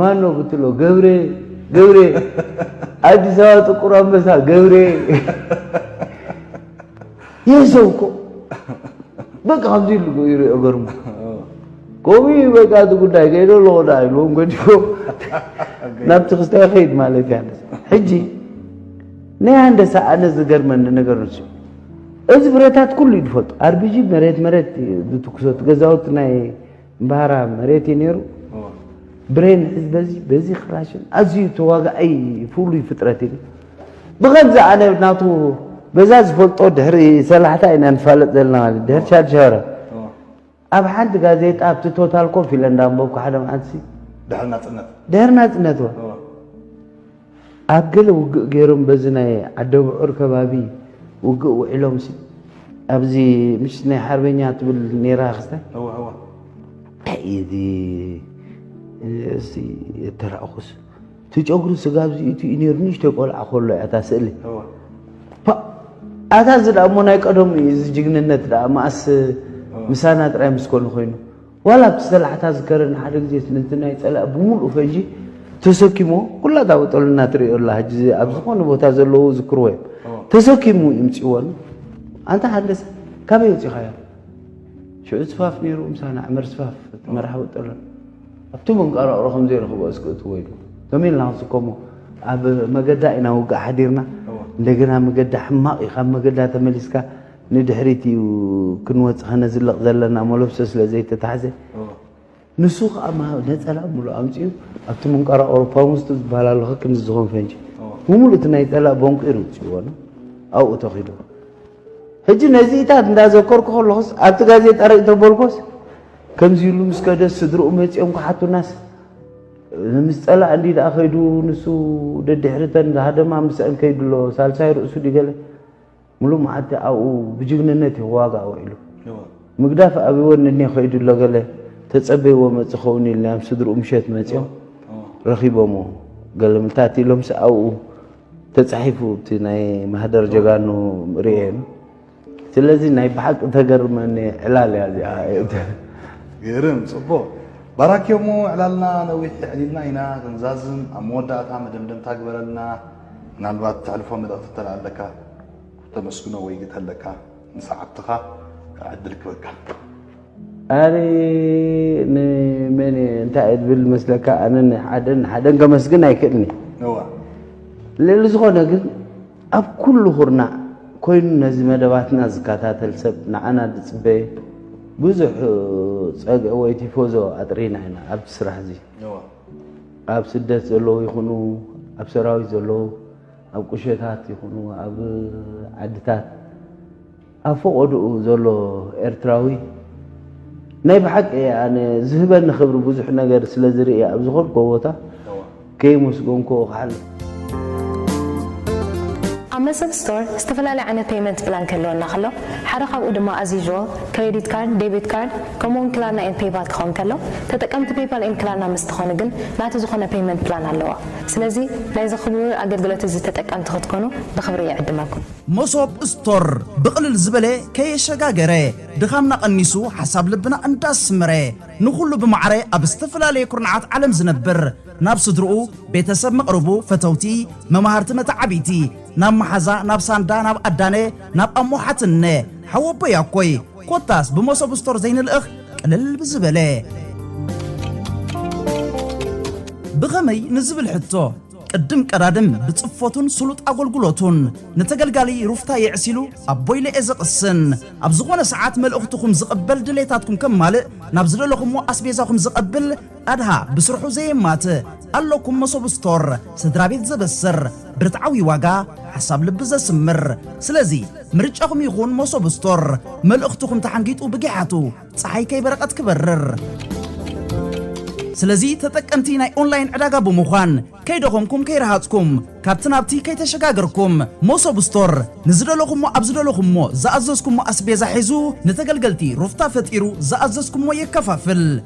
ማነው ብትሎ ገብሬ ገብሬ አዲስ አበባ ጥቁር አንበሳ ገብሬ ይህ ሰው እኮ በቃ ከምዚ ኢሉ ይሪኦ ገርሙ ከምኡ እዩ በቃ እቲ ጉዳይ ከይዶ ኣለዎ ዳ ኢልዎም ገዲፎ ናብቲ ክስታ ይኸይድ ማለት እያ ሕጂ ናይ ሃንደሳ ኣነ ዝገርመኒ ነገር ንሱ እዚ ብረታት ኩሉ እዩ ዝፈልጦ ኣርቢጂ መሬት መሬት ዝትኩሶ እቲ ገዛውቲ ናይ እምበሃራ መሬት እዩ ነይሩ ብሬን ሕዝ በዚ በዚ ክላሽን ኣዝዩ ተዋጋኣይ ፍሉይ ፍጥረት እዩ ብኸምዚ ኣነ ናቱ በዛ ዝፈልጦ ድሕሪ ሰላሕታ ኢና ንፋለጥ ዘለና ማለት ድሕሪ ሻድሻረ ኣብ ሓንቲ ጋዜጣ ኣብቲ ቶታል ኮፍ ኢለ እንዳንበብኩ ሓደ መዓልቲ ድሕሪ ናፅነት ድሕሪ ናፅነት ኣብ ገለ ውግእ ገይሮም በዚ ናይ ዓደብዑር ከባቢ ውግእ ውዒሎም ሲ ኣብዚ ምሽ ናይ ሓርበኛ ትብል ነይራ ክስታይ እንታይ እዚ እዚ ተራእኹስ ትጨጉሪ ስጋ ኣብዚ ኢቱ እዩ ነይሩ ንእሽተይ ቆልዓ ከሎ እያ እታ ስእሊ ኣታ እዚ ደኣ እሞ ናይ ቀደሙ እዩ እዚ ጅግንነት ደኣ መኣስ ምሳና ጥራይ ምስ ኮነ ኮይኑ ዋላ ኣብቲ ሰላሕታ ዝከረ ንሓደ ግዜ ስለቲ ናይ ጸላኢ ብምሉኡ ፈዢ ተሰኪሞ ኩላ እታ በጠሉና ትርእዮ ኣላ ሕጂ ኣብ ዝኾነ ቦታ ዘለዉ ዝክርዎ እዮም ተሰኪሙ ይምጽዎን ኣንታ ሃንደሰ ካበይ ወጺኻዮ ሽዑ ስፋፍ ነይሩ ምሳና ዕመር ስፋፍ መራሕ ወጠሎ ኣብቲ መንቀራቕሮ ከም ዘይረኽቦ እስክእትዎ ኢሉ ከመይ ኢልና ክንስከሞ ኣብ መገዳ ኢና ውግእ ሓዲርና እንደገና መገዳ ሕማቕ እዩ ካብ መገዳ ተመሊስካ ንድሕሪት እዩ ክንወጽ ከነዝልቕ ዘለና መለብሶ ስለ ዘይተታሕዘ ንሱ ከዓ ነፀላ ሙሉእ ኣምፅኡ ኣብቲ ምንቋራ ኣውሮፓ ውስጡ ዝበሃል ኣሎ ክክም ዝኸውን ፈንጂ ብምሉእ እቲ ናይ ፀላእ በንቂሩ ውፅእዎ ነው ኣብኡ ተኺዱ ሕጂ ነዚኢታት እንዳዘከርኩ ከለኹስ ኣብቲ ጋዜጣ ርእይ ተበልኮስ ከምዚ ኢሉ ምስ ከደ ስድርኡ መፅኦም ክሓቱናስ ምስ ፀላእ እንዲ ደኣ ከይዱ ንሱ ደድሕርተን ዝሃደማ ምስአን ከይዱ ኣሎ ሳልሳይ ርእሱ ድገለ ምሉእ መዓልቲ ኣብኡ ብጅግንነት እዩ ክዋጋእ ውዒሉ። ምግዳፍ ኣብይዎ እኒሀ ከይዱ ኣሎ ገለ ተፀበይዎ መፅ ይኸውን ኢልና እዮም ስድርኡ ምሸት መፂኦም ረኺቦምዎ። ገለ ምልታት ኢሎምስ ኣብኡ ተፃሒፉ እቲ ናይ ማህደር ጀጋኑ ርእየን። ስለዚ ናይ ብሓቂ ተገርመኒ ዕላል እያ እዚኣ። ግርም ፅቡቕ ባራኪ እሞ ዕላልና ነዊሕ የዕሊልና ኢና ክንዛዝም ኣብ መወዳእታ መደምደምታ ግበረልና። ምናልባት ተሕልፎ መልእኽቲ እንተለኣለካ ተመስግኖ ወይ ግተለካ ንሰዓብትኻ ዕድል ክበካ ኣነ ንመን እንታይ እየ ዝብል መስለካ ኣነ ንሓደን ሓደን ከመስግን ኣይክእልኒ ልዕሊ ዝኾነ ግን ኣብ ኩሉ ኩርና ኮይኑ ነዚ መደባትና ዝከታተል ሰብ ንዓና ዝፅበየ ብዙሕ ፀግዒ ወይ ቲፎዞ ኣጥሪና ኢና ኣብዚ ስራሕ እዚ ኣብ ስደት ዘለዉ ይኹኑ ኣብ ሰራዊት ዘለዉ ኣብ ቁሸታት ይኹኑ ኣብ ዓድታት ኣብ ፈቐድኡ ዘሎ ኤርትራዊ ናይ ብሓቂ ኣነ ዝህበኒ ክብሪ ብዙሕ ነገር ስለ ዝርኢ ኣብ ዝኾንኮ ቦታ ከይመስገንኮ ክሓልፍ ኣብ መሰል ስቶር ዝተፈላለየ ዓይነት ፔይመንት ፕላን ክህልወና ከሎ፣ ሓደ ካብኡ ድማ ኣዝ ዩዥዋል፣ ክሬዲት ካርድ፣ ዴቢት ካርድ፣ ከምኡ'ውን ክላርና ኤንድ ፔይፓል ክኸውን ከሎ፣ ተጠቀምቲ ፔይፓል ኤንድ ክላርና ምስ ትኾኑ ግን ናቱ ዝኾነ ፔይመንት ፕላን ኣለዎ። ስለዚ ናይዚ ክቡር ኣገልግሎት እዚ ተጠቀምቲ ክትኮኑ ብኽብሪ ይዕድመኩም። መሶብ ስቶር ብቕልል ዝበለ ከየሸጋገረ ድኻምና ቀኒሱ ሓሳብ ልብና እንዳስመረ ንኹሉ ብማዕረ ኣብ ዝተፈላለየ ኩርናዓት ዓለም ዝነብር ናብ ስድርኡ፣ ቤተሰብ መቕርቡ፣ ፈተውቲ፣ መማህርቲ መተዓብይቲ፣ ናብ መሓዛ፣ ናብ ሳንዳ፣ ናብ ኣዳነ፣ ናብ ኣሞ ሓትንነ፣ ሓወቦይ ኣኮይ፣ ኮታስ ብመሶብ ስቶር ዘይንልእኽ ቅልል ብዝበለ። ብኸመይ ንዝብል ሕቶ፣ ቅድም ቀዳድም ብጽፈቱን ስሉጥ ኣጎልጉሎቱን ንተገልጋሊ ሩፍታ የዕሲሉ ኣቦይለ'የ ዘቕስን። ኣብ ዝኾነ ሰዓት መልእኽትኹም ዝቕበል ድሌታትኩም ከማልእ ናብ ዝደለኹሞ ኣስቤዛኹም ዘቐብል፣ ኣድሃ ብስርሑ ዘየማትእ ኣሎኩም መሶብ ስቶር ስድራቤት ዘበስር ብርትዓዊ ዋጋ ሓሳብ ልቢ ዘስምር ስለዚ ምርጫኹም ይኹን መሶብ ስቶር መልእኽትኹም ተሓንጊጡ ብጊሓቱ ጸሓይ ከይበረቐት ክበርር ስለዚ ተጠቀምቲ ናይ ኦንላይን ዕዳጋ ብምዃን ከይደኸምኩም ከይረሃጽኩም ካብቲ ናብቲ ከይተሸጋገርኩም ሞሶብ ስቶር ንዝደለኹሞ ኣብ ዝደለኹሞ ዝኣዘዝኩሞ ኣስቤዛ ሒዙ ንተገልገልቲ ሩፍታ ፈጢሩ ዝኣዘዝኩሞ የከፋፍል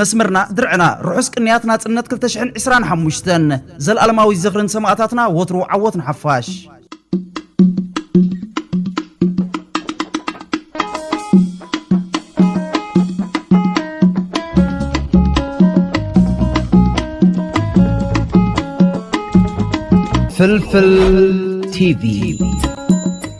መስመርና ድርዕና ርሑስ ቅንያት ናጽነት ክልተ ሽሕን ዕስራን ሓሙሽተን ዘልኣለማዊ ዝኽሪ ንሰማእታትና ወትሩ ዓወት ንሓፋሽ። ፍልፍል ቲቪ